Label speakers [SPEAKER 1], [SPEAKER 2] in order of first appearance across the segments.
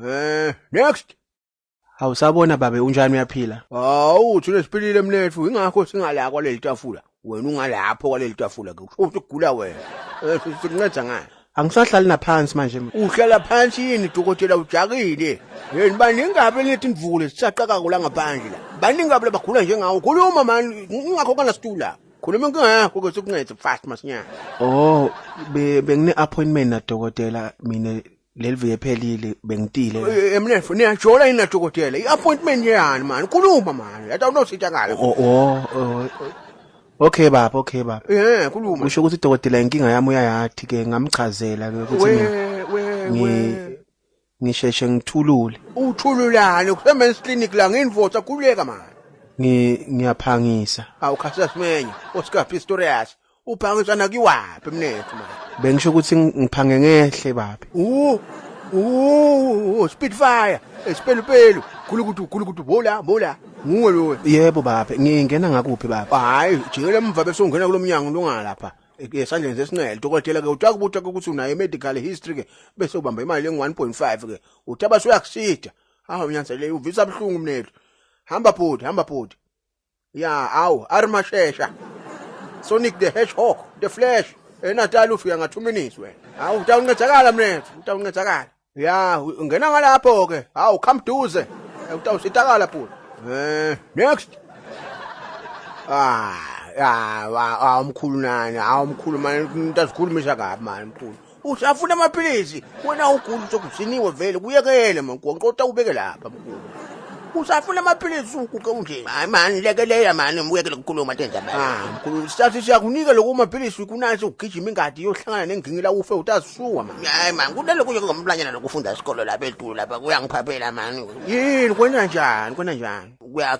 [SPEAKER 1] Eh, next. Awusabona
[SPEAKER 2] babe unjani uyaphila? Hawu, thina
[SPEAKER 1] siphilile mnethu, ingakho singala kwaleli tafula. Wena ungalapho kwaleli tafula ke. Kusho ukuthi ugula wena. Eh, si- Sikunceda ngani? Angisahlali naphansi
[SPEAKER 2] manje. ma. Uhlala phansi
[SPEAKER 1] yini dokotela ujakile? Yini baningi kabi lethi imvule sisaqaka kula ngaphandle la. Baningi kabi labagula njengawo. Khuluma mani, ingakho kana situla. Khuluma inkinga yakho ke sikuncede fast masinyane. Oh,
[SPEAKER 2] be bengine appointment na dokotela mina leli viki ephelile bengitile la. Eh, Mnefo niyajola
[SPEAKER 1] yini nadokotela? I-appointment yani mani? Khuluma mani. Yata unositha ngale. O- o- o-
[SPEAKER 2] okay baba okay baba Eh, khuluma.
[SPEAKER 1] kusho ukuthi dokotela
[SPEAKER 2] inkinga yami uyayathi ke ngamchazela ke ukuthi We mina we ngi- we. ngisheshe ngithulule Uthululane
[SPEAKER 1] kusemen's clinic la nginvosa khuleka mani. Ngi-
[SPEAKER 2] ngiyaphangisa Awukhasa
[SPEAKER 1] simenye. Oscar Pistorius. Uphangiswa nakiwaphi mnethu manje? Bengisho ukuthi
[SPEAKER 2] ngiphange ngehle babe. Uh, uh,
[SPEAKER 1] Spitfire, Spelupelu, Gulukudu, Gulukudu, bola, bola. Nguwe lowe. Yebo babe, ngingena
[SPEAKER 2] ngakuphi babe? Hayi, jikela emva
[SPEAKER 1] bese ungena kulomnyango lungalapha. esandleni sesinxele dokotela ke utaka ubutaka ukuthi unayo medical history ke bese ubamba imali engu 1.5 ke uthi abasuyakusida hawu nyanzeleke uvisa buhlungu mnethu hamba bhuti hamba bhuti ya awu arimashesha sonic the hedgehog the flash enatali ufika nga 2 minutes wena awu utawuncedakala mnethu utawuncedakala ya ungena ngalapho ke awu come duze utawusitakala bhuti eh next ah ya awumkhulu nani awumkhulu manje umuntu azikhulumisa kabi manje mkhulu Usafuna amaphilisi wena ugula sokugciniwe vele kuyekele mankonqo utawubeke lapha mkhulu. Usafuna amaphilisi ukuke unje. Hayi mani lekelela mani muyekele ukukhuluma tenza mani. Ah mkhulu sithathe siyakunika lokho maphilisi kunansi ukugijima ingadi yohlangana nengingila ufe utasuwa mani. Hayi mani kunalokho nje
[SPEAKER 3] ngomlanyana lokufunda isikole lapha eDulu lapha kuyangiphaphela mani. Yini kwena
[SPEAKER 1] njani kwena njani. Kuya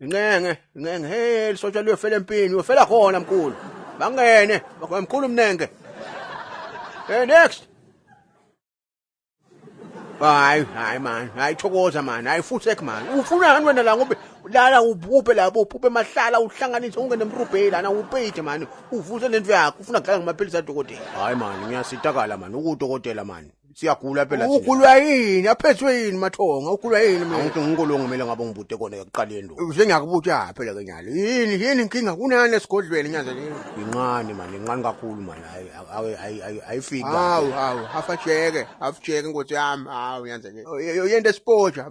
[SPEAKER 1] Inqenge, inqenge, hey lisotshwa liyofela empini, uyofela khona mkhulu. Bangene, mkhulu umnenge. Hey next. Hayi, hayi man, hayi thokoza man, hayi futsek man. Ufuna ngani wena la ngobe lala uphuphe lapho uphuphe emahlala uhlanganise ungene emrubheli lana upeyide man. Uvuse lento yakho, ufuna kudlala ngamaphilisi adokotela. Hayi man, ngiyasitakala man, ukudokotela man. siyagula phela thina. Ugulwa yini? Aphethwe yini mathonga? Ugulwa yini mina? Angithi nginkolo ngimele ngabe ngibute kona ekuqaleni lo. Uze ngiyakubuta phela ke nyalo. Yini yini inkinga kunani esigodlweni nyanza leyo? Incane mani, incane kakhulu mani. Hayi hayi hayi- hayi ayifiki. Hawu hawu hafajeke hafajeke nkosi yami hawu nyanza leyo. Yento esipoja.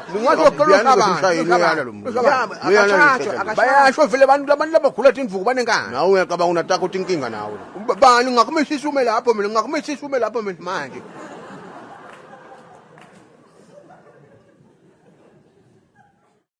[SPEAKER 1] bayasho vele abantu labantu labagula tindvuku banenkani nawe uyacabanga unataka uthi inkinga nawe bani ngingakumishisa ume lapho mina ngingakumishisa ume lapho mina manje